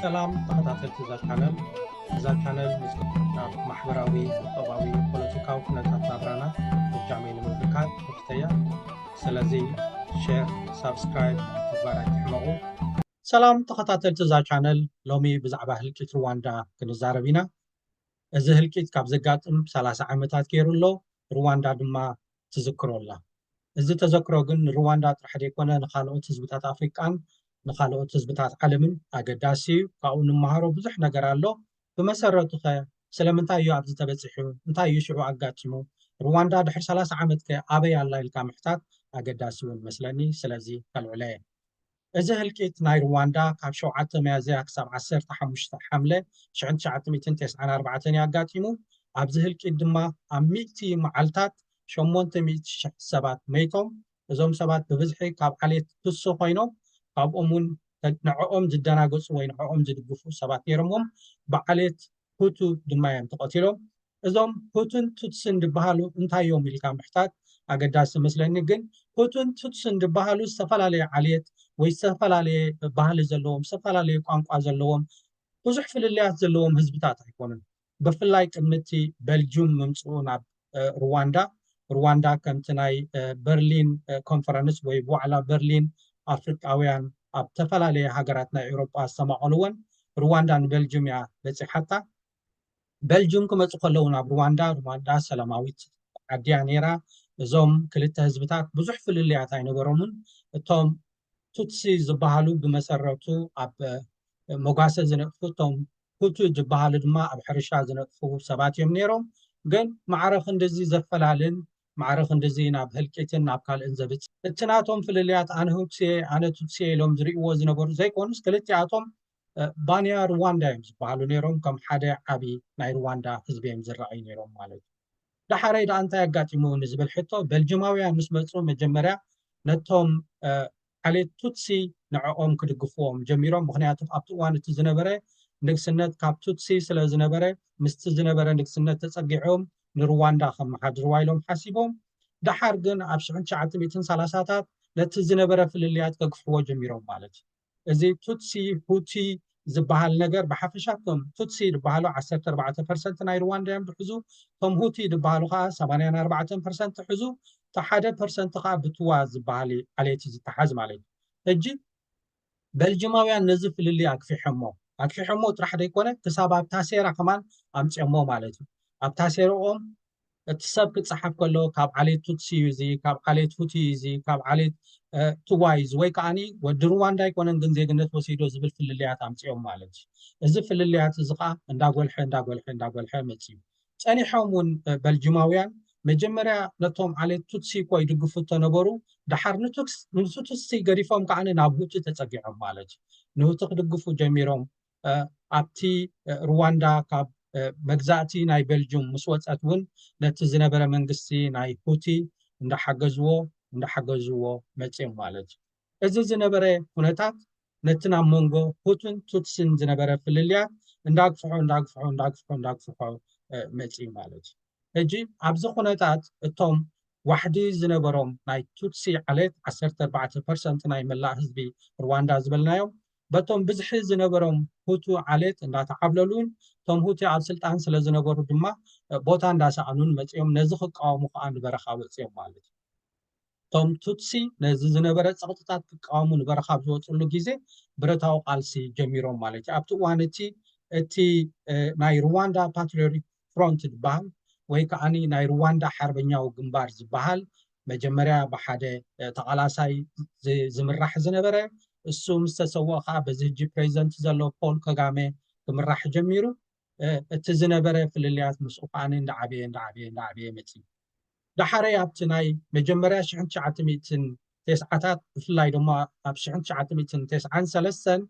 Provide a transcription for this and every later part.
ሰላም ተኸታተልቲ እዛ ቻነል እዛ ቻነል ምስናብ ማሕበራዊ ቁጠባዊ ፖለቲካዊ ኩነታት ናብራና ብጃመይ ንምብርካት ክፍተያ ስለዚ ሼር ሳብስክራይብ ምግባር ኣይትሕመቑ ሰላም ተኸታተልቲ እዛ ቻነል ሎሚ ብዛዕባ ህልቂት ሩዋንዳ ክንዛረብ ኢና እዚ ህልቂት ካብ ዘጋጥም 30 ዓመታት ገይሩ ኣሎ ሩዋንዳ ድማ ትዝክሮ ኣላ። እዚ ተዘክሮ ግን ንሩዋንዳ ጥራሕ ዘይኮነ ንኻልኦት ህዝብታት ኣፍሪቃን ንኻልኦት ህዝብታት ዓለምን ኣገዳሲ እዩ። ካብኡ ንመሃሮ ብዙሕ ነገር ኣሎ። ብመሰረቱኸ ስለምንታይ እዩ ኣብዚ ተበጺሑ? እንታይ እዩ ሽዑ ኣጋጢሙ? ሩዋንዳ ድሕሪ ሰላሳ ዓመትከ ኣበይ ኣላ ኢልካ ምሕታት ኣገዳሲ እውን እመስለኒ። ስለዚ ከልዕሎ'የ። እዚ ህልቂት ናይ ርዋንዳ ካብ ሸውዓተ ሚያዝያ ክሳብ ዓሰርተ ሓሙሽተ ሓምለ ሽሕን ትሽዓተ ሚእትን ተስዓን ኣርባዕተን እዩ ኣጋጢሙ። ኣብዚ ህልቂት ድማ ኣብ ሚእቲ መዓልታት ሸሞንተ ሚእቲ ሽሕ ሰባት መይቶም። እዞም ሰባት ብብዝሒ ካብ ዓሌት ቱሲ ኮይኖም ካብኦም እውን ንዐኦም ዝደናገጹ ወይ ንዐኦም ዝድግፉ ሰባት ነይሮምዎም ብዓሌት ሁቱ ድማ እዮም ተቐቲሎም። እዞም ሁቱን ቱትስን ድበሃሉ እንታይ እዮም ኢልካ ምሕታት ኣገዳሲ መስለኒ ግን ሁቱን ቱትስን ድበሃሉ ዝተፈላለየ ዓልየት ወይ ዝተፈላለየ ባህሊ ዘለዎም ዝተፈላለየ ቋንቋ ዘለዎም ብዙሕ ፍልልያት ዘለዎም ህዝብታት ኣይኮኑን ብፍላይ ቅምቲ በልጁም ምምፅኡ ናብ ሩዋንዳ ሩዋንዳ ከምቲ ናይ በርሊን ኮንፈረንስ ወይ ዋዕላ በርሊን ኣፍሪቃውያን ኣብ ተፈላለየ ሃገራት ናይ ኤውሮጳ ዝተማቐልዎን ሩዋንዳ ንቤልጅም እያ በፂሓታ በልጁም ክመጹ ከለዉ ናብ ሩዋንዳ፣ ሩዋንዳ ሰላማዊት ዓዲ'ያ ነይራ፣ እዞም ክልተ ህዝብታት ብዙሕ ፍልልያት ኣይነበሮምን፣ እቶም ቱትሲ ዝበሃሉ ብመሰረቱ ኣብ መጓሰ ዝነጥፉ፣ እቶም ሁቱ ዝበሃሉ ድማ ኣብ ሕርሻ ዝነጥፉ ሰባት እዮም ነይሮም፣ ግን ማዕረ ክንድዚ ዘፈላልን ማዕረ ክንድዚ ናብ ህልቂትን ናብ ካልእን ዘብጽሕ። እቲ ናቶም ፍልልያት ኣነ ሁቱሲ'የ ኣነ ቱትሲ'የ ኢሎም ዝርእይዎ ዝነበሩ ዘይኮኑስ ክልቲኣቶም ባንያ ርዋንዳ እዮም ዝበሃሉ ነይሮም ከም ሓደ ዓቢ ናይ ርዋንዳ ህዝቢ እዮም ዝረኣዩ ነይሮም ማለት እዩ ዳሓረይ ዳኣ እንታይ ኣጋጢሙ ንዝብል ሕቶ በልጅማውያን ምስ መጹ መጀመርያ ነቶም ዓሌት ቱትሲ ንዕኦም ክድግፍዎም ጀሚሮም ምክንያቱ ኣብቲ እዋን እቲ ዝነበረ ንግስነት ካብ ቱትሲ ስለ ዝነበረ ምስቲ ዝነበረ ንግስነት ተጸጊዖም ንርዋንዳ ከመሓድርዋ ኢሎም ሓሲቦም ደሓር ግን ኣብ 1930ታት ነቲ ዝነበረ ፍልልያት ከግፍሕዎ ጀሚሮም ማለት እዩ እዚ ቱትሲ ሁቲ ዝባሃል ነገር ብሓፈሻ እቶም ቱትሲ ድባሃሉ ዓሰርተ ኣርባዕተ ፐርሰንት ናይ ርዋንዳ እዮም ድሕዙ እቶም ሁቲ ድባሃሉ ከኣ ሰማንያን ኣርባዕተን ፐርሰንት ሕዙ እቲ ሓደ ፐርሰንት ከኣ ብትዋ ዝባሃል ዓሌት ዝተሓዝ ማለት እዩ ሕጂ በልጅማውያን ነዚ ፍልልይ ኣግፊሖሞ ኣግፊሖሞ ጥራሕ ዘይኮነ ክሳብ ኣብ ታሴራ ከማን ኣምፅኦሞ ማለት እዩ ኣብ ታሴረኦም እቲ ሰብ ክጸሓፍ ከሎ ካብ ዓሌት ቱትሲ እዩ እዚ ካብ ዓሌት ሁቲ እዩ እዚ ካብ ዓሌት ትዋይ እዩ እዚ ወይ ከዓኒ ወዲ ሩዋንዳ ኣይኮነን ግን ዜግነት ወሲዶ ዝብል ፍልልያት ኣምጺኦም ማለት እዩ እዚ ፍልልያት እዚ ከዓ እንዳጎልሐ እንዳጎልሐ እንዳጎልሐ መጽዩ ጸኒሖም እውን በልጅማውያን መጀመርያ ነቶም ዓሌት ቱትሲ እኮ ይድግፉ እተነበሩ ድሓር ንቱትሲ ገዲፎም ከዓ ናብ ሁቲ ተጸጊዖም ማለት እዩ ንሁቲ ክድግፉ ጀሚሮም ኣብቲ ርዋንዳ ካብ መግዛእቲ ናይ ቤልጁም ምስ ወፀት እውን ነቲ ዝነበረ መንግስቲ ናይ ሁቲ እንዳሓገዝዎ እንዳሓገዝዎ መፅዮም ማለት እዩ። እዚ ዝነበረ ኩነታት ነቲ ናብ መንጎ ሁቱን ቱትሲን ዝነበረ ፍልልያት እንዳግፍሖ እንዳግፍሖ እንዳግፍሖ እንዳግፍሖ መፅዩ ማለት እዩ። ሕጂ ኣብዚ ኩነታት እቶም ዋሕዲ ዝነበሮም ናይ ቱትሲ ዓሌት ዓሰርተ ኣርባዕተ ፐርሰንት ናይ መላእ ህዝቢ ርዋንዳ ዝበልናዮም በቶም ብዝሒ ዝነበሮም ሁቱ ዓሌት እንዳተዓብለሉን እቶም ሁቲ ኣብ ስልጣን ስለዝነበሩ ድማ ቦታ እንዳሰኣኑን መጺኦም ነዚ ክቃወሙ ከኣ ንበረኻ ወጺኦም ማለት እዩ። እቶም ቱትሲ ነዚ ዝነበረ ጸቕጥታት ክቃወሙ ንበረኻ ኣብ ዝወጽሉ ግዜ ብረታዊ ቃልሲ ጀሚሮም ማለት እዩ። ኣብቲ እዋን እቲ እቲ ናይ ሩዋንዳ ፓትሪዮሪክ ፍሮንት ድበሃል ወይ ከኣ ናይ ርዋንዳ ሓርበኛዊ ግንባር ዝበሃል መጀመርያ ብሓደ ተቓላሳይ ዝምራሕ ዝነበረ እሱ ምስ ተሰወኦ ከኣ በዚ ህጂ ፕሬዚደንት ዘሎ ፖል ከጋመ ክምራሕ ጀሚሩ እቲ ዝነበረ ፍልልያት ምስኡ ከኣ እንዳዓበየ እንዳዓበየ እንዳዓበየ መጺኡ። ዳሓረይ ኣብቲ ናይ መጀመርያ ሽሕን ትሽዓተ ሚእትን ቴስዓታት ብፍላይ ደሞ ኣብ ሽሕን ትሽዓተ ሚእትን ቴስዓን ሰለስተን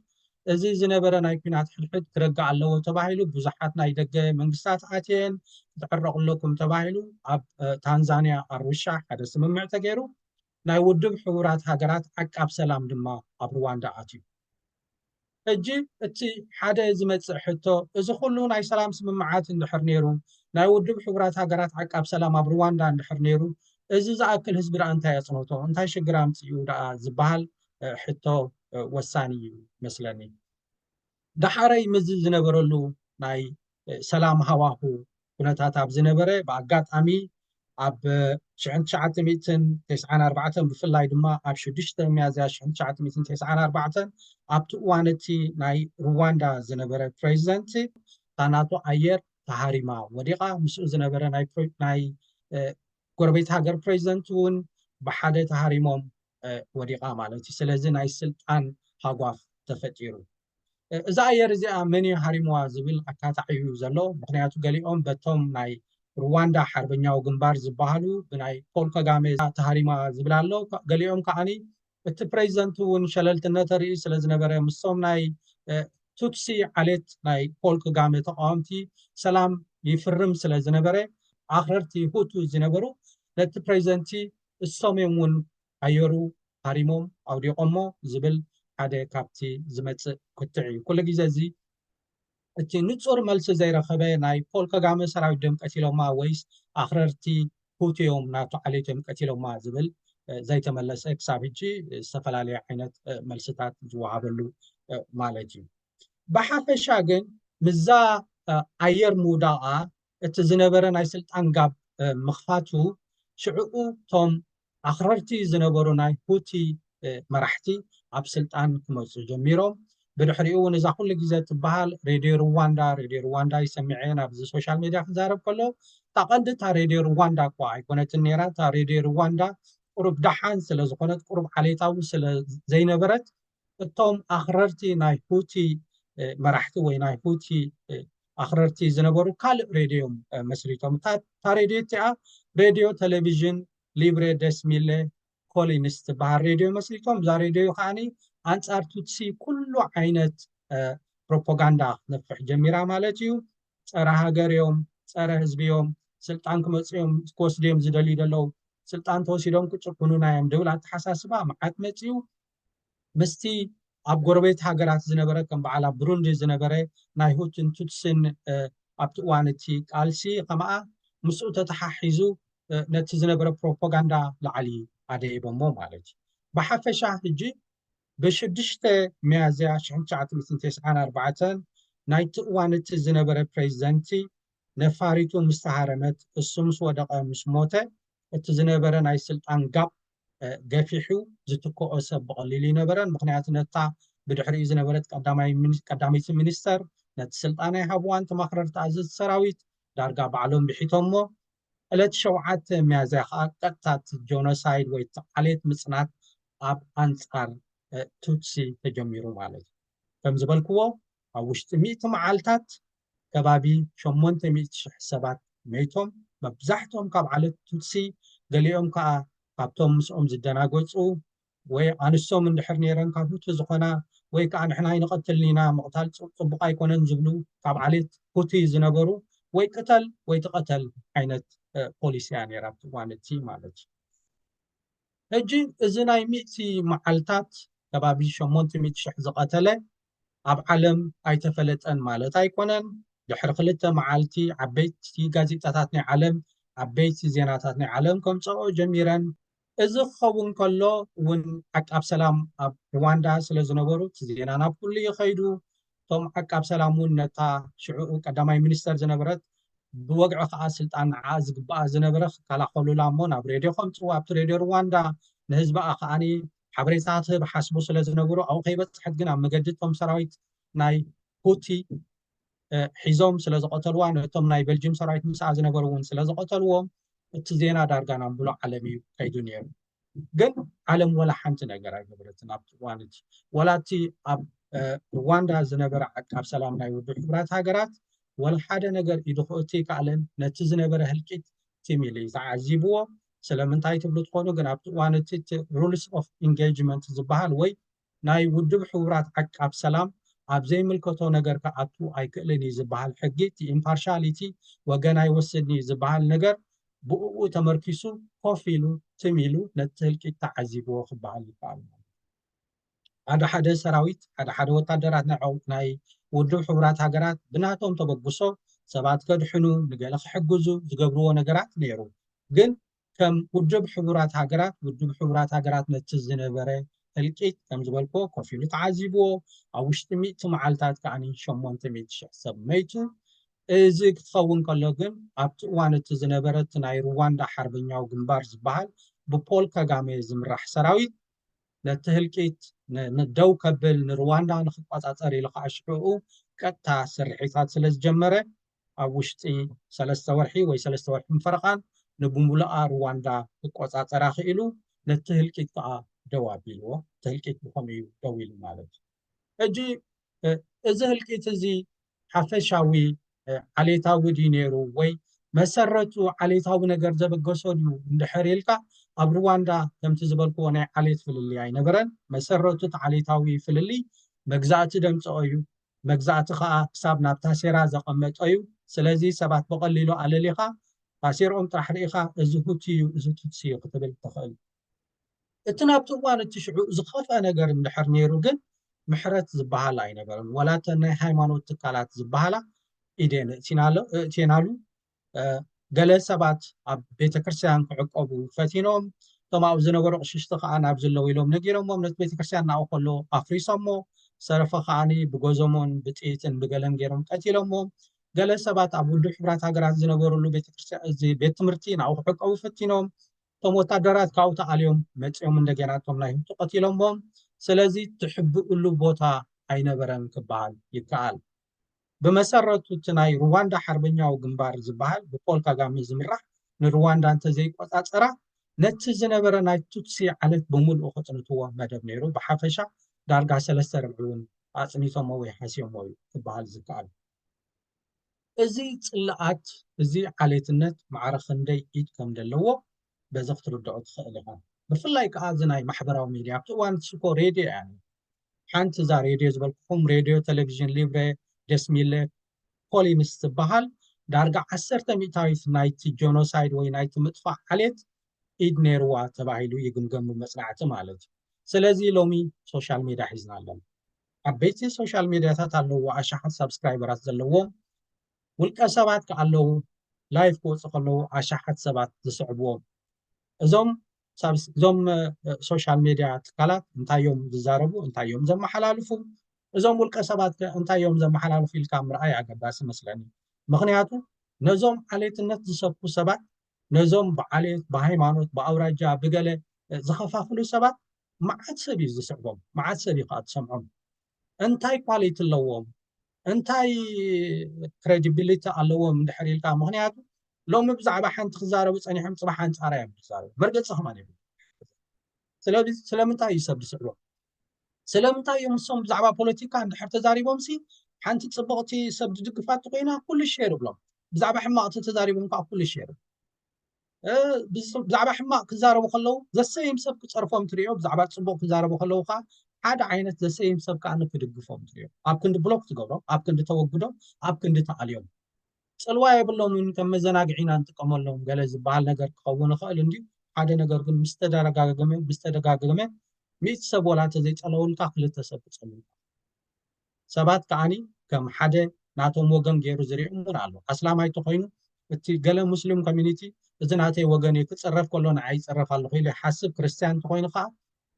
እዚ ዝነበረ ናይ ኩናት ሕድሕድ ክረግእ ኣለዎ ተባሂሉ ብዙሓት ናይ ደገ መንግስታት ኣትየን ክትዕረቁ ኣለኩም ተባሂሉ ኣብ ታንዛንያ ኣሩሻ ሓደ ስምምዕ ተገይሩ ናይ ውድብ ሕቡራት ሃገራት ዓቃብ ሰላም ድማ ኣብ ሩዋንዳ ኣትዩ። ሕጂ እቲ ሓደ ዝመጽእ ሕቶ፣ እዚ ኩሉ ናይ ሰላም ስምምዓት እንድሕር ነይሩ፣ ናይ ውድብ ሕቡራት ሃገራት ዓቃብ ሰላም ኣብ ሩዋንዳ እንድሕር ነይሩ፣ እዚ ዝኣክል ህዝቢ ደኣ እንታይ ኣጽነቶ፣ እንታይ ሽግር ኣምጺኡ ደኣ ዝበሃል ሕቶ ወሳኒ እዩ መስለኒ። ደሓረይ ምስዚ ዝነበረሉ ናይ ሰላም ሃዋሁ ኩነታት ኣብ ዝነበረ ብኣጋጣሚ ኣብ ሽሕን ትሽዓተ ሚእትን ተስዓን ኣርባዕተን ብፍላይ ድማ ኣብ ሽዱሽተ ሚያዝያ ሽሕን ትሽዓተ ሚእትን ተስዓን ኣርባዕተን ኣብቲ እዋን እቲ ናይ ሩዋንዳ ዝነበረ ፕሬዚደንት እታ ናቶ ኣየር ተሃሪማ ወዲቓ ምስኡ ዝነበረ ናይ ጎረቤት ሃገር ፕሬዚደንት እውን ብሓደ ተሃሪሞም ወዲቓ ማለት እዩ ስለዚ ናይ ስልጣን ሃጓፍ ተፈጢሩ እዛ ኣየር እዚኣ መን እዩ ሃሪምዋ ዝብል ኣካታዕ እዩ ዘሎ ምክንያቱ ገሊኦም በቶም ናይ ሩዋንዳ ሓርበኛዊ ግንባር ዝበሃሉ ብናይ ፖል ከጋሜ ተሃሪማ ዝብል ኣሎ ገሊኦም ከዓኒ እቲ ፕሬዚደንት እውን ሸለልትነት ርኢ ስለዝነበረ ምሶም ናይ ቱትሲ ዓሌት ናይ ፖል ከጋሜ ተቃወምቲ ሰላም ይፍርም ስለዝነበረ ኣክረርቲ ሁቱ ዝነበሩ ነቲ ፕሬዚደንቲ እሶም'ዮም ውን ኣየሩ ሃሪሞም ኣውዲቖሞ ዝብል ሓደ ካብቲ ዝመጽእ ክትዕ'ዩ። ኩሉ ግዜ እዚ እቲ ንጹር መልሲ ዘይረኸበ ናይ ፖል ከጋመ ሰራዊት ድዮም ቀቲሎማ ወይስ ኣኽረርቲ ሁቲ'ዮም ናቱ ዓሌት'ዮም ቀቲሎማ ዝብል ዘይተመለሰ ክሳብ ሕጂ ዝተፈላለየ ዓይነት መልስታት ዝወሃበሉ ማለት'ዩ። ብሓፈሻ ግን ምስዛ ኣየር ምውዳቓ እቲ ዝነበረ ናይ ስልጣን ጋብ ምኽፋቱ ሽዕኡ እቶም ኣኽረርቲ ዝነበሩ ናይ ሁቲ መራሕቲ ኣብ ስልጣን ክመጹ ጀሚሮም። ብድሕሪኡ እውን እዛ ኩሉ ግዜ እትበሃል ሬድዮ ርዋንዳ፣ ሬድዮ ርዋንዳ እዩ ሰሚዐ ናብዚ ሶሻል ሜድያ ክዛረብ ከለዉ፣ እታ ቀንዲ እታ ሬድዮ ርዋንዳ እኳ ኣይኮነትን ነይራ፣ እታ ሬድዮ ርዋንዳ ቁሩብ ደሓን ስለ ዝኾነት ቁሩብ ዓሌታዊ ስለ ዘይነበረት እቶም ኣኽረርቲ ናይ ሁቲ መራሕቲ ወይ ናይ ሁቲ ኣኽረርቲ ዝነበሩ ካልእ ሬድዮ እዮም መስሪቶም እታ ሬድዮ እቲኣ ሬድዮ ቴሌቪዥን ሊብሬ ደስሚለ ኮሊንስ ትበሃል ሬድዮ መስሪቶም እዛ ሬድዮ ከዓኒ ኣንጻር ቱትሲ ኩሉ ዓይነት ፕሮፓጋንዳ ክትነፍሕ ጀሚራ ማለት እዩ ፀረ ሃገር እዮም ፀረ ህዝቢ እዮም ስልጣን ክመፅ እዮም ክወስዱ እዮም ዝደልዩ ዘለዉ ስልጣን ተወሲዶም ክጭኩኑና እዮም ድብል ኣተሓሳስባ መዓት መፅኡ ምስቲ ኣብ ጎረቤት ሃገራት ዝነበረ ከም በዓል ኣብ ብሩንዲ ዝነበረ ናይ ሁትን ቱትስን ኣብቲ እዋን እቲ ቃልሲ ከማኣ ምስኡ ተተሓሒዙ ነቲ ዝነበረ ፕሮፓጋንዳ ላዕሊ ኣደይቦሞ ማለት እዩ ብሓፈሻ ሕጂ ብሽዱሽተ ሚያዝያ ሽሕን ትሽዓተ ሚእትን ተስዓን ኣርባዕተን ናይቲ እዋን እቲ ዝነበረ ፕሬዚደንቲ ነፋሪቱ ምስ ተሃረመት እሱ ምስ ወደቐ ምስ ሞተ እቲ ዝነበረ ናይ ስልጣን ጋብ ገፊሑ ዝትክኦ ሰብ ብቐሊሉ ኣይነበረን። ምኽንያቱ ነታ ብድሕሪኡ ዝነበረት ቀዳመይቲ ሚኒስተር ነቲ ስልጣን ኣይሃብዋን፣ ተማኽረርቲ ኣዘዝቲ ሰራዊት ዳርጋ ባዕሎም ብሒቶሞ። ዕለት ሸውዓተ ሚያዝያ ከኣ ቀጥታ እቲ ጆኖሳይድ ወይ እቲ ዓሌት ምጽናት ኣብ ኣንጻር ቱትሲ ተጀሚሩ ማለት እዩ። ከም ዝበልክዎ ኣብ ውሽጢ ሚእቲ መዓልታት ከባቢ ሸሞንተ ሚእቲ ሽሕ ሰባት መይቶም፣ መብዛሕትኦም ካብ ዓሌት ቱትሲ፣ ገሊኦም ከኣ ካብቶም ምስኦም ዝደናገጹ ወይ ኣንስቶም እንድሕር ነይረን ካብ ሁቱ ዝኾና ወይ ከኣ ንሕና ኣይንቐትልን'ኢና፣ ምቕታል ጽቡቕ ኣይኮነን ዝብሉ ካብ ዓሌት ሁቲ ዝነበሩ ወይ ቅተል ወይ ተቐተል ዓይነት ፖሊሲ'ያ ነይራ ኣብቲ እዋን'ቲ ማለት'ዩ። ሕጂ እዚ ናይ ሚእቲ መዓልታት ከባቢ ሸሞንተ ሚእቲ ሽሕ ዝቐተለ ኣብ ዓለም ኣይተፈለጠን ማለት ኣይኮነን። ድሕሪ ክልተ መዓልቲ ዓበይቲ ጋዜጣታት ናይ ዓለም ዓበይቲ ዜናታት ናይ ዓለም ከምጽኣኦ ጀሚረን። እዚ ክኸውን ከሎ ውን ዓቃብ ሰላም ኣብ ርዋንዳ ስለዝነበሩ እቲ ዜና ናብ ኩሉ እዩ ከይዱ። እቶም ዓቃብ ሰላም እውን ነታ ሽዑኡ ቀዳማይ ሚኒስተር ዝነበረት ብወግዒ ከኣ ስልጣን ንዓኣ ዝግብኣ ዝነበረ ክከላኸሉላ እሞ ናብ ሬድዮ ከምጽዋ ኣብቲ ሬድዮ ርዋንዳ ንህዝብኣ ከኣኒ ሓበሬታ ትህብ ሓስቡ ስለ ዝነበሩ ኣብኡ ከይበጽሐት ግን ኣብ መገዲ እቶም ሰራዊት ናይ ሁቲ ሒዞም ስለ ዝቐተልዋ ነቶም ናይ ቤልጅም ሰራዊት ምስኣ ዝነበሩ እውን ስለ ዝቐተልዎም እቲ ዜና ዳርጋ ናብ ምሉእ ዓለም እዩ ከይዱ ነይሩ ግን ዓለም ወላ ሓንቲ ነገር ኣይገበረትን ኣብቲ እዋን እቲ ወላ እቲ ኣብ ሩዋንዳ ዝነበረ ዓቃብ ሰላም ናይ ውድብ ሕቡራት ሃገራት ወላ ሓደ ነገር ኢዱ ክእቱ ኣይከኣለን ነቲ ዝነበረ ህልቂት ትም ኢሉ እዩ ተዓዚብዎ ስለምንታይ ትብሉ ትኾኑ ግን ኣብቲ እዋን እቲ ሩልስ ኦፍ ኢንጌጅመንት ዝበሃል ወይ ናይ ውድብ ሕቡራት ዓቃብ ሰላም ኣብ ዘይምልከቶ ነገር ክኣቱ ኣይክእልን እዩ ዝበሃል ሕጊ እቲ ኢምፓርሻሊቲ ወገን ኣይወስድን እዩ ዝበሃል ነገር ብኡኡ ተመርኪሱ ኮፍ ኢሉ ትም ኢሉ ነቲ ህልቂት ተዓዚብዎ ክበሃል ይከኣል ማለት እዩ። ሓደ ሓደ ሰራዊት ሓደ ሓደ ወታደራት ናይ ናይ ውድብ ሕቡራት ሃገራት ብናቶም ተበግሶ ሰባት ከድሕኑ ንገለ ክሕግዙ ዝገብርዎ ነገራት ነይሩ ግን ከም ውድብ ሕቡራት ሃገራት ውድብ ሕቡራት ሃገራት ነቲ ዝነበረ ህልቂት ከም ዝበልክዎ ኮፍ ኢሉ ተዓዚብዎ ኣብ ውሽጢ ሚእቲ መዓልታት ከኣ ሸሞንተ ሚእቲ ሽሕ ሰብ መይቱ እዚ ክትኸውን ከሎ ግን ኣብቲ እዋን እቲ ዝነበረ እቲ ናይ ሩዋንዳ ሓርበኛዊ ግንባር ዝበሃል ብፖል ከጋሜ ዝምራሕ ሰራዊት ነቲ ህልቂት ደው ከብል ንሩዋንዳ ንክቆፃፀር ኢሉ ከዓ ሽሕኡ ቀጥታ ስርሒታት ስለ ዝጀመረ ኣብ ውሽጢ ሰለስተ ወርሒ ወይ ሰለስተ ወርሕን ፈረቓን ንብምሉኣ ሩዋንዳ ክቆጻጸራ ክኢሉ፣ ነቲ ህልቂት ከኣ ደው ኣቢልዎ። እቲ ህልቂት ብኸምኡ እዩ ደው ኢሉ ማለት እዩ። ሕጂ እዚ ህልቂት እዚ ሓፈሻዊ ዓሌታዊ ድዩ ነይሩ ወይ መሰረቱ ዓሌታዊ ነገር ዘበገሶ ድዩ እንድሕር ኢልካ ኣብ ሩዋንዳ ከምቲ ዝበልክዎ ናይ ዓሌት ፍልልይ ኣይነበረን። መሰረቱ እቲ ዓሌታዊ ፍልልይ መግዛእቲ ደምጽኦ እዩ። መግዛእቲ ከኣ ክሳብ ናብ ታሴራ ዘቐመጦ'ዩ፣ ስለዚ ሰባት ብቐሊሉ ኣለሊኻ፣ ታሴርኦም ጥራሕ ርኢኻ እዚ ሁቲ'ዩ እዚ ቱትሲ'ዩ ክትብል ትኽእል። እቲ ናብቲ እዋን እቲ ሽዑ ዝኸፍኣ ነገር እንድሕር ነይሩ ግን ምሕረት ዝበሃል ኣይነበረን፣ ዋላ እተን ናይ ሃይማኖት ትካላት ዝበሃላ ኢደን ኣእትየናሉ፣ ገለ ሰባት ኣብ ቤተ ክርስቲያን ክዕቆቡ ፈቲኖም እቶም ኣብኡ ዝነበሩ ቅሽሽቲ ከዓ ናብ ዝለው ኢሎም ነጊሮሞም ነቲ ቤተ ክርስቲያን ናብኡ ከሎ ኣፍሪሶሞ ሰረፈ ከዓ ብጎዞሞን ብጥይትን ብገለን ገይሮም ቀቲሎሞ ገለ ሰባት ኣብ ውድብ ሕብራት ሃገራት ዝነበርሉ ቤተክርስትያን ቤት ትምህርቲ ናብኡ ክዕቀቡ ፈቲኖም እቶም ወታደራት ካብኡ ተኣልዮም መፂኦም እንደገና እቶም ናይ ህብቱ ቀቲሎሞም ስለዚ ትሕብእሉ ቦታ ኣይነበረን ክበሃል ይከኣል ብመሰረቱ እቲ ናይ ሩዋንዳ ሓርበኛዊ ግንባር ዝበሃል ብፖል ካጋሜ ዝምራሕ ንሩዋንዳ እንተዘይቆጻጸራ ነቲ ዝነበረ ናይ ቱትሲ ዓሌት ብምልኡ ከጽንትዎ መደብ ነይሩ፣ ብሓፈሻ ዳርጋ ሰለስተ ርብዒ እውን ኣጽኒቶሞ ወይ ሓስዮሞ እዩ ክበሃል ዝከኣል። እዚ ጽልኣት እዚ ዓሌትነት ማዕረ ክንደይ ኢድ ከምደለዎ በዚ ክትርድኦ ትኽእል ኢኻ ብፍላይ ከዓ እዚ ናይ ማሕበራዊ ሚድያ ኣብቲ እዋን ንሱ እኮ ሬድዮ እያ ነይሩ ሓንቲ እዛ ሬድዮ ዝበልኩኹም ሬድዮ ቴሌቭዥን ሊብረ ደስሚለ ፖሊንስ ትበሃል ዳርጋ ዓሰርተ ሚእታዊት ናይቲ ጆኖሳይድ ወይ ናይቲ ምጥፋእ ዓሌት ኢድ ነይርዋ ተባሂሉ ይግምገም መጽናዕቲ ማለት እዩ ስለዚ ሎሚ ሶሻል ሜድያ ሒዝና ኣለና ዓበይቲ ሶሻል ሜድያታት ኣለዎ ኣሽሓት ሳብስክራይበራት ዘለዎም ውልቀ ሰባት ክኣ ኣለዉ ላይፍ ክወጹ ከለዉ ኣሻሓት ሰባት ዝስዕብዎም እዞም እዞም ሶሻል ሜድያ ትካላት እንታይ እዮም ዝዛረቡ እንታይ እዮም ዘመሓላልፉ እዞም ውልቀ ሰባት ከ እንታይ እዮም ዘመሓላልፉ ኢልካ ምርኣይ ኣገዳሲ መስለኒ ምክንያቱ ነዞም ዓሌትነት ዝሰብኩ ሰባት ነዞም ብዓሌት ብሃይማኖት ብኣውራጃ ብገለ ዝኸፋፍሉ ሰባት መዓት ሰብ እዩ ዝስዕቦም መዓት ሰብ እዩ ከዓ ትሰምዖም እንታይ ኳሊቲ ኣለዎም እንታይ ክሬዲቢሊቲ ኣለዎም እንድሕር ኢልካ ምክንያቱ ሎሚ ብዛዕባ ሓንቲ ክዛረቡ ፀኒሖም ፅባሕ ኣንፃራ እዮም ዝዛረቡ መርገፂ ከማን ይብ ስለምንታይ እዩ ሰብ ዝስዕቦ ስለምንታይ እዮም ንሶም ብዛዕባ ፖለቲካ እንድሕር ተዛሪቦም ሲ ሓንቲ ፅቡቕቲ ሰብ ዝድግፋ እተኮይና ኩሉ ሸር ይብሎም ብዛዕባ ሕማቕቲ ተዛሪቦም ከዓ ኩሉ ሸር ብዛዕባ ሕማቅ ክዛረቡ ከለዉ ዘሰይም ሰብ ክፀርፎም ትሪኦ ብዛዕባ ፅቡቅ ክዛረቡ ከለዉ ከዓ ሓደ ዓይነት ዘሰይም ሰብ ከዓ ክድግፎም ትሪኦ ኣብ ክንዲ ብሎክ ትገብሮም ኣብ ክንዲ ተወግዶም ኣብ ክንዲ ተኣልዮም ፅልዋ የብሎምን ከም መዘናግዒ ኢና ንጥቀመሎም ገለ ዝበሃል ነገር ክኸውን ይኽእል እንድዩ ሓደ ነገር ግን ምስ ተደጋገመ ምስ ተደጋገመ ሚእቲ ሰብ ወላ እንተዘይፀለውልካ ክልተ ሰብ ክፀልውካ ሰባት ከኣኒ ከም ሓደ ናቶም ወገን ገይሩ ዝሪኦም እውን ኣሎ። ኣስላማይ ተኾይኑ እቲ ገለ ሙስሊም ኮሚኒቲ እዚ ናተይ ወገን እዩ ክፅረፍ ከሎ ንዓይ ይፅረፍ ኣለኹ ኢሉ ይሓስብ። ክርስትያን ተኾይኑ ከዓ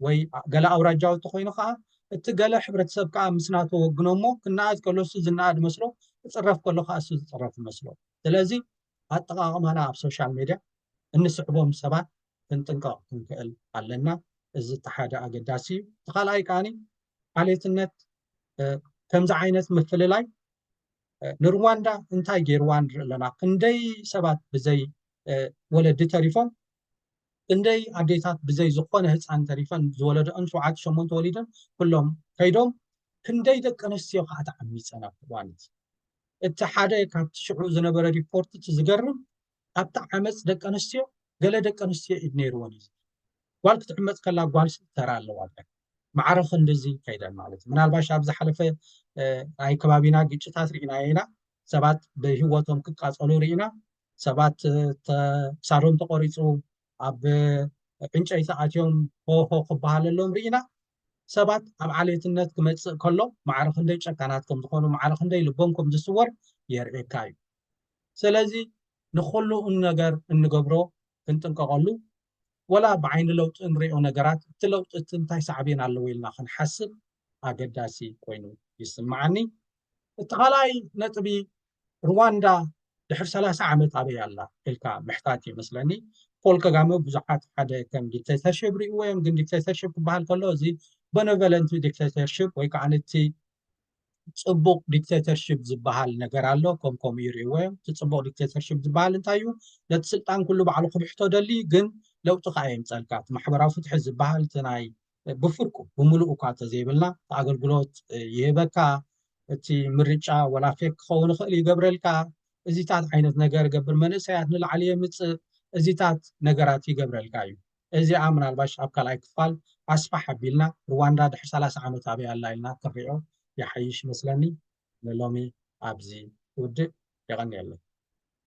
ወይ ገለ ኣውራጃዊ ተኾይኑ ከዓ እቲ ገለ ሕብረተሰብ ከዓ ምስ ናቶ ወግኖ እሞ ክነኣድ ከሎ እሱ ዝነኣድ መስሎ ክፅረፍ ከሎ ከዓ እሱ ዝፅረፍ ይመስሎ። ስለዚ ኣጠቃቅማና ኣብ ሶሻል ሜድያ እንስዕቦም ሰባት ክንጥንቀቅ ክንክእል ኣለና። እዚ እቲ ሓደ ኣገዳሲ እዩ። እቲ ካልኣይ ከኣኒ ዓሌትነት ከምዚ ዓይነት ምፍልላይ ንሩዋንዳ እንታይ ገይርዋ ንርኢ ኣለና ክንደይ ሰባት ብዘይ ወለዲ ተሪፎም ክንደይ ኣዴታት ብዘይ ዝኾነ ህፃን ተሪፈን ዝወለደኦን ሸውዓተ ሸሞንተ ወሊደን ኩሎም ከይዶም ክንደይ ደቂ ኣንስትዮ ከዓ ተዓሚፀን ኣብቲ እዋን እቲ ሓደ ካብቲ ሽዑ ዝነበረ ሪፖርት እቲ ዝገርም ካብቲ ዓመጽ ደቂ ኣንስትዮ ገለ ደቂ ኣንስትዮ ኢድ ነይርወን እዩ ዝብል ጓል ክትዕመጽ ከላ ጓል ተራ ኣለዋ ዳይ ማዕረ ክንድዚ ከይደን ማለት እዩ ምናልባሽ ኣብ ዝሓለፈ ናይ ከባቢና ግጭታት ርኢና ኢና ሰባት ብህወቶም ክቃጸሉ ርኢና ሰባት ክሳዶም ተቆሪፁ ኣብ ዕንጨይቲ ኣትዮም ሆሆ ክበሃለሎም ርኢና ሰባት ኣብ ዓሌትነት ክመፅእ ከሎ ማዕረ ክንደይ ጨካናት ከም ዝኾኑ ማዕረ ክንደይ ልቦም ከም ዝስወር የርእየካ እዩ ሰለዚ ንኹሉ ነገር እንገብሮ ክንጥንቀቐሉ ወላ ብዓይኒ ለውጢ እንሪኦ ነገራት እቲ ለውጢ እቲ እንታይ ሳዕቤን ኣለዎ ኢልና ክንሓስብ ኣገዳሲ ኮይኑ ይስምዓኒ። እቲ ካልኣይ ነጥቢ ርዋንዳ ድሕሪ ሰላሳ ዓመት ኣበይ ኣላ ኢልካ ምሕታት እዩ መስለኒ። ፖል ከጋመ ብዙሓት ሓደ ከም ዲክቴተርሽፕ ሪእዎ እዮም፣ ግን ዲክቴተርሽፕ ክበሃል ከሎ እዚ በነቨለንቲ ዲክቴተርሽፕ ወይ ከዓ ነቲ ፅቡቕ ዲክተተርሽፕ ዝበሃል ነገር ኣሎ ከም ከምኡ ይርእዎ እዮም እቲ ፅቡቕ ዲክተተርሽፕ ዝበሃል እንታይ እዩ ነቲ ስልጣን ኩሉ ባዕሉ ክብሕቶ ደሊ ግን ለውጢ ከዓ የምፀልካ እቲ ማሕበራዊ ፍትሒ ዝበሃል እቲ ናይ ብፍርቁ ብምሉእ እኳ እንተዘይብልና እቲ ኣገልግሎት ይህበካ እቲ ምርጫ ወላ ፌክ ክኸውን ይኽእል ይገብረልካ እዚታት ዓይነት ነገር ገብር መንእሰያት ንላዕሊ የምፅእ እዚታት ነገራት ይገብረልካ እዩ እዚኣ ምናልባሽ ኣብ ካልኣይ ክፋል ኣስፋሕ ኣቢልና ርዋንዳ ድሕሪ ሰላሳ ዓመት ኣበይ ኣላ ኢልና ክንሪኦ ይሓይሽ ይመስለኒ ንሎሚ ኣብዚ እውድእ የቀንየለይ።